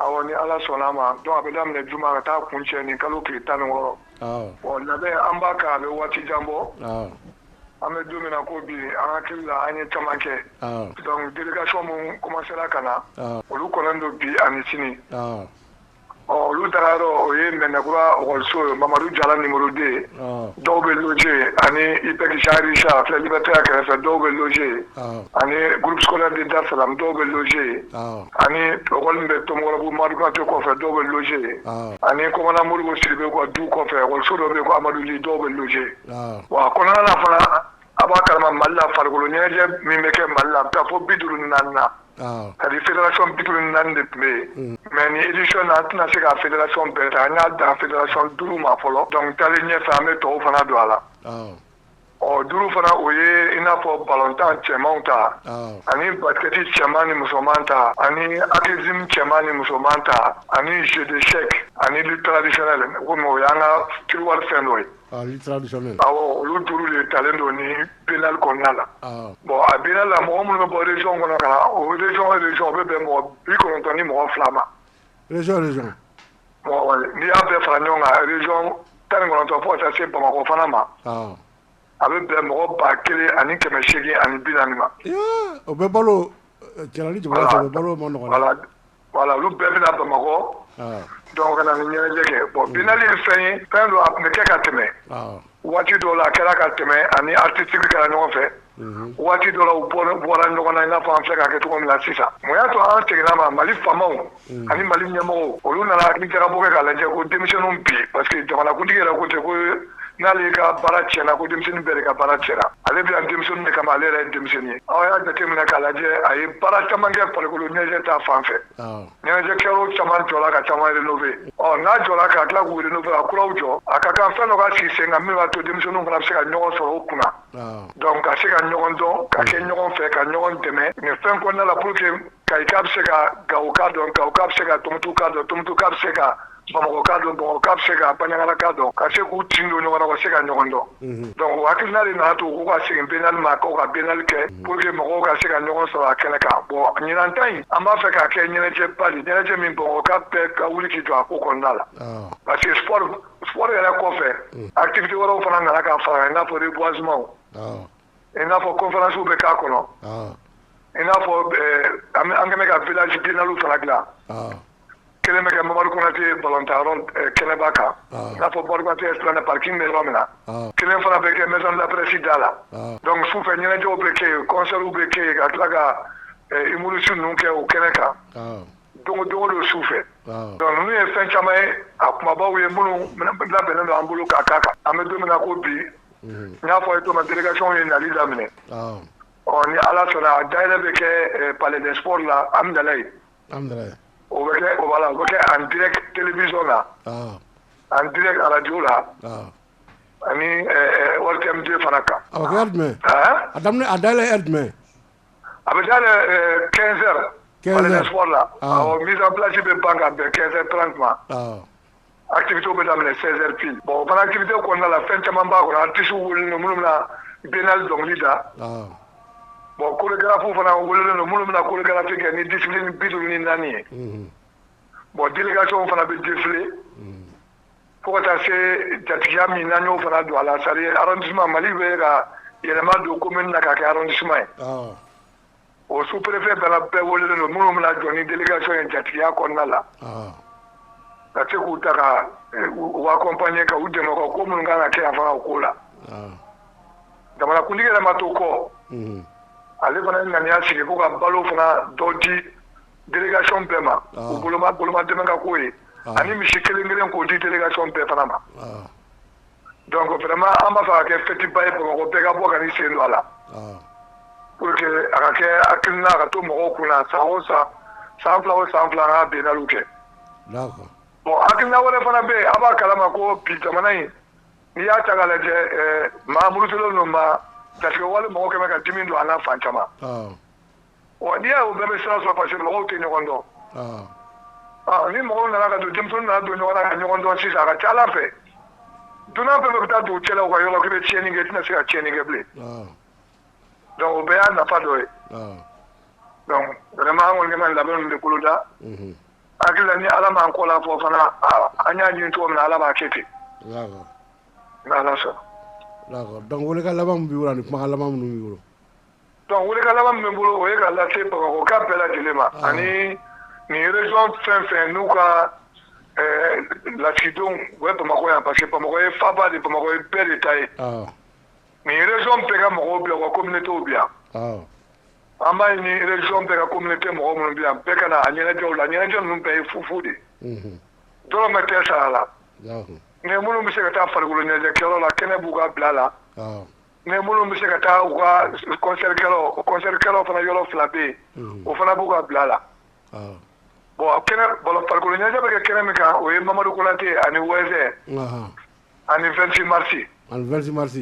Awɔ ni Ala sɔnn'a ma donc a bɛ daminɛ juma ka taa kuncɛ nin kalo tile 16 awɔ bon labɛn an b'a kan a bɛ waati jan bɔ awɔ an bɛ don min na ko bi an hakili la an ye caman kɛ awɔ donc délégation minnu commencer ra ka na awɔ olu kɔnnen don bi ani sini awɔ ɔ olu dagayɔrɔ o ye Mɛnɛkura ɔkɔliso ye Mamadu Jara numéro 2 awɔ dɔw bɛ loger yen ani IPEC Jean Richard filɛ Liberté A kɛrɛfɛ dɔw bɛ loger yen awɔ ani groupe scolaire de Dar Salam dɔw bɛ loger yen awɔ ani école min bɛ Tomikɔrɔbugu Madu Konate kɔfɛ dɔw bɛ loger yen, ɔɔ, ani kɔmandan Modibo Sidibe ka du kɔfɛ école so dɔ bɛ yen ko Amadu Ly dɔw bɛ loger yen, ɔɔ, wa a kɔnɔna na fana a' b'a kalama Mali la farikolo ɲɛnajɛ min bɛ kɛ Mali la a bɛ taa fo 54 na, awɔ, c'est à dire fédération 54 de tun bɛ yen, unhun, mais nin édition in na an tɛna se ka fédération bɛɛ ta an y'a dan fédération 5 ma fɔlɔ donc taalen ɲɛfɛ an bɛ tɔw fana don a la, awɔ o duuru fana o ye i n'a fɔ balontan cɛmanw ta ani basket cɛman ni musoman ta ani athlétisme cɛman ni musoman ta ani jeu d'échecs ani lutte traditionnelle komi o y'an ka terroir fɛn dɔ ye awɔ olu duuru de talen don nin biennale kɔnɔna la bon a biennale la mɔgɔ minnu bɛ bɔ région kɔnɔ ka na o région région o bɛ bɛn mɔgɔ bi kɔnɔntɔn ni mɔgɔ fila ma N'i y'a bɛɛ fara ɲɔgɔn kan région 19 fo ka taa se Bamakɔ fana ma, ɔn, a bɛ bɛn mɔgɔ 1840 ma, ee, o bɛɛ balo cɛla ni jabala cɛ o bɛɛ balo o man nɔgɔn dɛ, voilà olu bɛɛ bɛ na Bamakɔ, ɔn, donc ka na nin ɲɛnajɛ kɛ, bon biennale ye fɛn ye fɛn don a tun bɛ kɛ ka tɛmɛ, awɔ waati dɔw la a kɛra ka tɛmɛ ani artistique kɛra ɲɔgɔn fɛ mhm. waati dɔw la u bɔra ɲɔgɔn na i n'a fɔ an filɛ k'a kɛ cogo min na sisan mun y'a to an seginna a ma Mali faamaw mhm. ani Mali ɲɛmɔgɔw olu nana hakili jagabɔ kɛ k'a lajɛ ko denmisɛnninw bi parce que jamanakuntigi yɛrɛ ko ten ko n'ale ka baara tiɲɛna ko denmisɛnnin bɛɛ de ka baara tiɲɛna ale bɛ yan denmisɛnnin de kama ale yɛrɛ ye denmisɛnnin ye aw y'a jateminɛ k'a lajɛ a ye baara caman kɛ farikolo ɲɛnajɛ ta fan fɛ Ɲɛnajɛ kɛ yɔrɔ caman jɔra ka caman rénover ɔ n'a jɔra ka tila k'u rénover ka kuraw jɔ, a ka kan fɛn dɔ ka sigi sen kan min b'a to denmisɛnninw fana bɛ se ka ɲɔgɔn sɔrɔ o kunna, awɔ, donc ka se ka ɲɔgɔn dɔn ka kɛ ɲɔgɔn fɛ ka ɲɔgɔn dɛmɛ nin fɛn kɔnɔna la pour que kayika bɛ se ka gawoka dɔn, gawoka bɛ se ka tumutuka dɔn, tumutuka bɛ se ka Bamakɔka dɔn Bamakɔka bɛ se ka Banjagaraka dɔn ka se k'u tin don ɲɔgɔn na ka se ka ɲɔgɔn dɔn donc o hakilina de nana to u ka segin biennale ma k'u ka biennale kɛ pour que mɔgɔw ka se ka ɲɔgɔn sɔrɔ a kɛnɛ kan bon ɲinan ta in an b'a fɛ k'a kɛ ɲɛnajɛba ye ɲɛnajɛ min Bamakɔka bɛɛ ka wuli k'i jɔ a ko kɔnɔna la parce que sport yɛrɛ kɔfɛ activité wɛrɛ fana nana ka fara a kan n'a fɔ reboisement i n'a fɔ kɔnfɛsiw bɛ k'a kɔnɔ i n'a fɔ an kɛmɛ ka vji bininali fana dila kɛlɛ bɛ kɛ mamari kɔnɔnatɛ batan yɔrɔ kɛnɛba kan n'a fɔ barikatɛ silamɛ paki bɛ yɔrɔ min na kelen fana bɛ kɛ mɛ lapresi da la dɔnku su fɛ ɲɛnajɛɛnɛw bɛ ke yen kɔnsaw bɛ ke yen ka tila ka i mururisu ninnu kɛ o kɛnɛ kan don don don su fɛ n'u ye fɛn caman ye a kumabaw ye minnu labɛnnen don an bolo k'a kan kan an bɛ don ko bi n y'a fɔ ye to delegasiyw ye nali laminɛ ɔ ni ala sɔnna a da yɛrɛ bɛ kɛ pale de sɔrɔri la an bɛ ye o bɛ kɛ o la o bɛ kɛ an dɛrɛ terielebisɔn la an di araj la ani wari fana kan a a da jumɛn A bɛ taa kɛsɛri la mi bilasi bɛ ban ka bɛn kɛsɛ tran tuma a tibit bɛ daminɛ sɛri bon fana tibit kɔnɔna la fɛn caman b'a kɔnɔ an tɛsu wuli minnu na bɛnna dɔnkili da bon ko gafo fana wele ninnu minnu bɛna ko garanti kɛ ni di ni bi ni naani ye bon dikasi fana bɛ difi fo ka taa se jatigiya min n'an y'o fana don a la c'est à dire arrondissement Mali bɛ ka yɛlɛma don commune na k'a kɛ arrondissement ye, awɔ, o sous préfet fana bɛɛ welelen don minnu bɛna jɔ ni délégation ye jatigiya kɔnɔna la, awɔ, ka se k'u ta ka u accompagner ka u dɛmɛ u ka ko minnu ka kan ka kɛ yan fana o ko la, awɔ, jamanakuntigi yɛrɛ ma to kɔ, unhun, ale fana ye ŋaniya sigi ko ka balo fana dɔ di délégation bɛɛ ma, ɔɔ, u boloma boloma dɛmɛ ka k'o ye, ɔɔ, ani misi kelen kelen k'o di délégation bɛɛ fana ma, ɔɔ, donc vraiment an b'a fɛ a ka kɛ fête ba ye Bamakɔ bɛɛ ka bɔ ka n'i sen don a la, ɔɔ, pour que a ka kɛ hakilina ka to mɔgɔw kun na san o san, san fila o san fila an ka biennale kɛ, d'accord bon hakilina wɛrɛ fana bɛ yen a b'a kalama ko bi jamana in n'i y'a ta k'a lajɛ ɛɛ maa murutilen don maa jatigɛwale mɔgɔ kɛmɛ ka dimi don an na fan caman, ɔɔ Ɔ n'i y'a o bɛɛ bɛ sira sɔrɔ parce que mɔgɔw tɛ ɲɔgɔn dɔn ɔ ni mɔgɔw nana ka don denmisɛnninw nana don ɲɔgɔn na ka ɲɔgɔn dɔn sisan a ka ca ala fɛ dunan bɛɛ bɛ taa dugu cɛla ka yɔrɔ kelen tiɲɛni kɛ tɛna se ka tiɲɛni kɛ bilen donc o bɛɛ y'a nafa dɔ ye donc vraiment an kɔni ka labɛn de boloda hakili la ni ala m'an kɔ la fɔ fana an y'a ɲini cogo min na ala b'a kɛ ten n'ala sɔnna donc welekan laban min b'i bolo ani kumakan laban minnu b'i bolo Donc welekan laban min bɛ n bolo o ye k'a lase bamakɔkaw bɛɛ lajɛlen ma ani nin région fɛn fɛn n'u ka lasigidenw u bɛ bamakɔ yan parce que bamakɔ ye faba de bamakɔ ye bɛɛ de ta ye nin région bɛɛ ka mɔgɔw bi yan u ka communauté bi yan an b'a ɲini région bɛɛ ka communauté mɔgɔ minnu bi yan bɛɛ ka na a ɲɛnajɛw la ɲɛnajɛ ninnu bɛɛ ye fufu de dɔrɔmɛ tɛ sara la nka minnu bɛ se ka taa farikolo ɲɛnajɛkɛyɔrɔ la kɛnɛ b'u ka bila la mais minnu bɛ se ka taa u ka concert kɛlaw concert kɛlaw fana yɔrɔ fila bɛ yen, unhun, o fana b'u ka bila la, awɔ, bon a kɛnɛ farikolo ɲɛnajɛ bɛ kɛ kɛnɛ min kan o ye Mamadu Konate ani Wɛzɛn, anhan, ani 26 mars, ani 26 mars,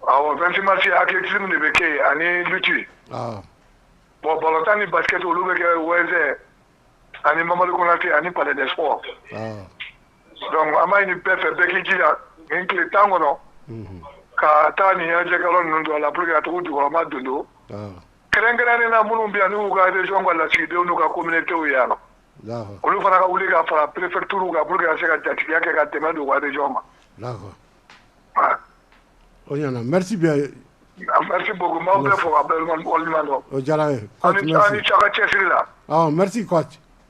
awɔ 26 mars athlétisme de bɛ kɛ yen ani lutte, awɔ, bon balontan ni basket olu bɛ kɛ Wɛzɛn ani Mamadu Konate ani palais des sports, awɔ donc an b'a ɲini bɛɛ fɛ bɛɛ k'i jija nin tile tan kɔnɔ ka taa nin ɲɛnajɛkɛyɔrɔ ninnu dɔ la pour que ka taga u jukɔrɔma dondon kɛrɛnkɛrɛnnen na minnu bɛ yan n'u ka région ka lasigidenw n'u ka communauté ye yan nɔ olu fana ka wuli ka fara préfecture kan pour que ka se ka jatigiya kɛ ka dɛmɛ don u ka région ma. D'accord. Voilà. O ɲana merci bien. Merci beaucoup n b'aw bɛɛ fo ka bɛɛ waleɲuman dɔn. O diyara an ye. Aw ni aw ni ce aw ka cɛsiri la. Awɔ merci coach.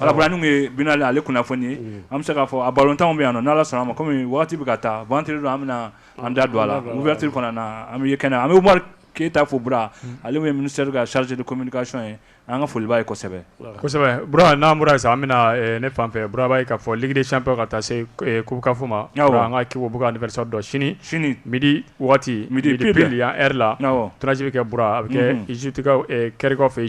Alain ye bɛnale ale kunnafoni ye an bɛ se k'a fɔ a barotanw bɛ yan ala sɔnna a ma kɔmi waati bɛ ka taa don an bɛ an da don a la mutiri na an bɛ kɛnɛ an bɛ wari keyita fo b ale bɛ mini se ka saridu kɔmikasɔn ye an ka foli ye kosɛbɛ n'an bɔra sisan an bɛ ne fan fɛ bura ye ka fɔ dcp ka taa se kokanfo ma an ka kiko bɔ anisa dɔn sini sini midi waati midi pli yan e la tsi bɛ kɛ b a bɛ kɛkaw fɛ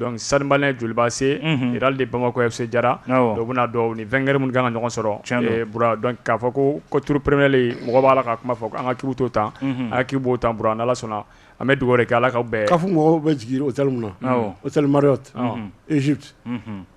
yen sanba jolibaase jira de bamakɔ se jara dɔ bɛna dɔn ni fɛnkɛ minnu kan ka ɲɔgɔn sɔrɔ k'a fɔ ko ko turupereele mɔgɔ b'a la ka kuma fɔ an ka kibi to tan a k'i b'o tan b a ala sɔnna an bɛ dugawu kɛ ala ka bɛɛ ka fɔ mɔgɔw bɛ jigin o na o tɛ marire eztu